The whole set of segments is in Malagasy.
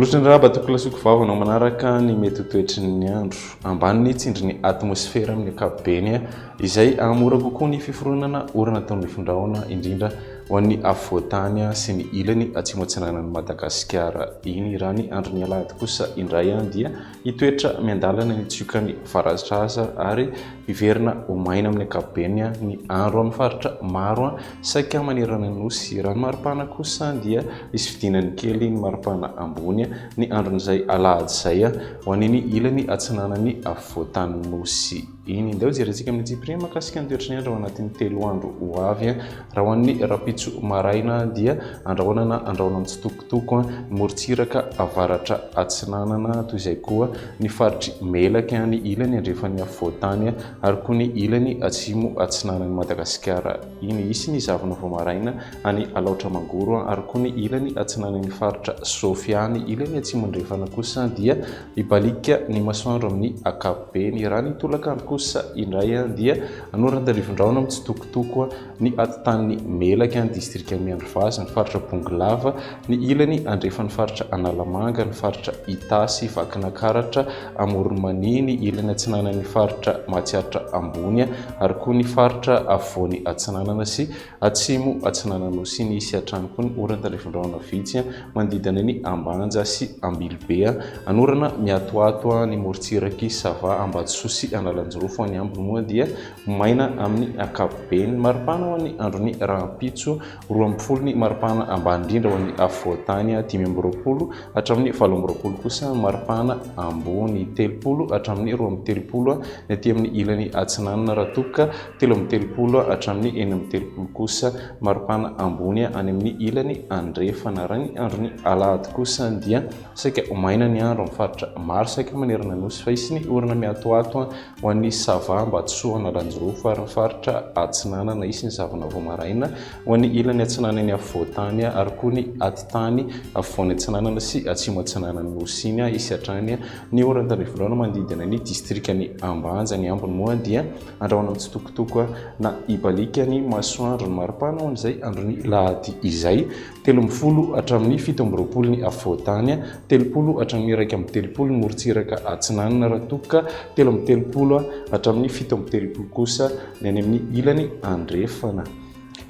Misaotra indray Abato Kilasiko Vava anao manaraka ny mety ho toetry ny andro ambany ny tsindry ny atmosfera amin'ny ankapobeny izay hahamora kokoa ny fiforonana orana atao ny findrahona indrindra ho an'ny afovoantany sy ny ilany atsimo atsinanan'i Madagasikara iny raha ny andron'ny alahady kosa indray dia Hitoetra miandalana ny tsiokan'ny varasitra aza ary hiverina ho maina amin'ny ankapobeny ny andro amin'ny faritra maro saika manerana ny Nosy. Raha ny maripana kosa dia hisy fidinany kely ny maripana ambony ny andron'izay alahady izay ho any amin'ny ilany atsinanan'ny afovoan-tanin'ny Nosy. Eny, ndao jerentsika amin'ny antsipiriany mahakasika ny toetry ny andro ao anatin'ny telo andro ho avy. Raha ho an'ny rahampitso maraina dia andrahoana na andrahoina mitsitokotoko ny morontsiraka avaratra atsinanana, toy izay koa ny faritr'i Melaky, ny ilany andrefan'ny afovoan-tany ary koa ny ilany atsimo atsinanan'i Madagasikara. Iny hisy ny zavona vao maraina any Alaotra Mangoro ary koa ny ilany atsinanan'ny faritra Sofia, ny ilany atsimo andrefana kosa dia Hibaliaka ny masoandro amin'ny ankapobeny. Raha ny tolakandro kosa indray dia anoran-tandrivindrahona mitsitokotoko ny atitan'ny Melaky, ny distrika Miandrivazo, ny faritra Bongolava, ny ilany andrefan'ny faritra Analamanga, ny faritra Itasy, Vakinakaratra, Amoron'i Mania, ny ilany atsinanan'ny faritra Matsiatra Ambony ary koa ny faritra Afovoany Atsinanana sy Atsimo Atsinanan'Osy nisy hatrany koa ny oran talefondrahona vitsy manodidina ny Ambanja sy Ambilobe, anorana miatoato ny morontsirak'i Sava, Ambatosoa sy Analanjirofo, any ambiny moa dia maina amin'ny ankapobeny. Maripana ho an'ny andron'ny rahampitso, roa amby folo ny maripana ambany indrindra ho an'ny afovoantany, dimy amby roapolo hatramin'ny valo amby roapolo kosa ny maripana ambony, telopolo hatramin'ny roa amby telopolo ny aty amin'ny ilany atsinanana raha toa ka telo amby telopolo hatramin'ny enina amby telopolo kosa maripana ambony any amin'ny ilany andrefana. Raha ny andron'ny alahady kosa dia saika ho maina ny andro amin'ny faritra maro saika manerana nosy fa hisy ny orana miatoato ho an'ny Sava, Ambatosoa, Analanjirofo ary ny faritra atsinanana. Hisy ny zavona vao maraina ho an'ny ilany atsinanan'ny afovoantany ary koa ny atitany afovoany atsinanana sy atsimo atsinanan'ny nosy iny hisy hatrany ny oran-tandrifindràna manodidina ny distrikan'i Ambanja. Ny ambiny moa dia. Andrahoina mitsitokotoko na ibaliaka ny masoandro ny maripana ho an'izay andron'ny lahady izay, telo amby folo hatramin'ny fito amby roapolo ny afovoan-tany, telopolo hatramin'ny iraika amby telopolo ny morontsiraka atsinanana raha toa ka telo amby telopolo hatramin'ny fito amby telopolo kosa ny any amin'ny ilany andrefana.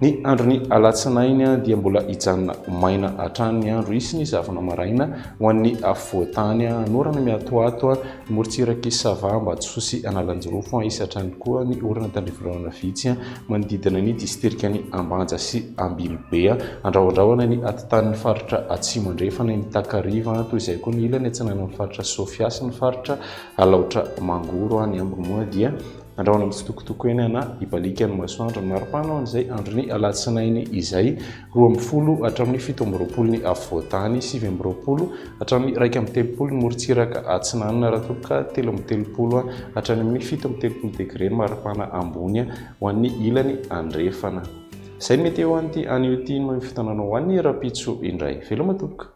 Ny andron'ny alatsinainy dia mbola hijanona maina hatrany ny andro, hisy ny zavona maraina ho an'ny afovoan-tany, hanorana miatoato ny morontsirak'i Sava, Ambatosoa sy Analanjirofo, hisy hatrany koa ny orana tandrivololana vitsy manodidina ny distrikan'i Ambanja sy Ambilobe, handraohandraohana ny atitan'ny faritra Atsimo Andrefana eny Takariva, toy izay koa ny ilany atsinanan'ny faritra Sofia sy ny faritra Alaotra Mangoro, ny ambiny moa dia. Andrahoina amin'ny fitokotoko eny ana ibalikan'ny masoandro ny maripana ao an'izay andron'ny alatsinainy izay, roa amby folo hatramin'ny fito amby roapolo ny afovoantany, sivy amby roapolo hatramin'ny iraika amby telopolo ny morontsiraka atsinanana raha toa ka telo amby telopolo hatrany amin'ny fito amby telopolo degre ny maripana ambony ho an'ny ilany andrefana. Izay ny meteo anty anio ity noho ny fotoana anao ho an'ny rahampitso indray. Veloma tompoko!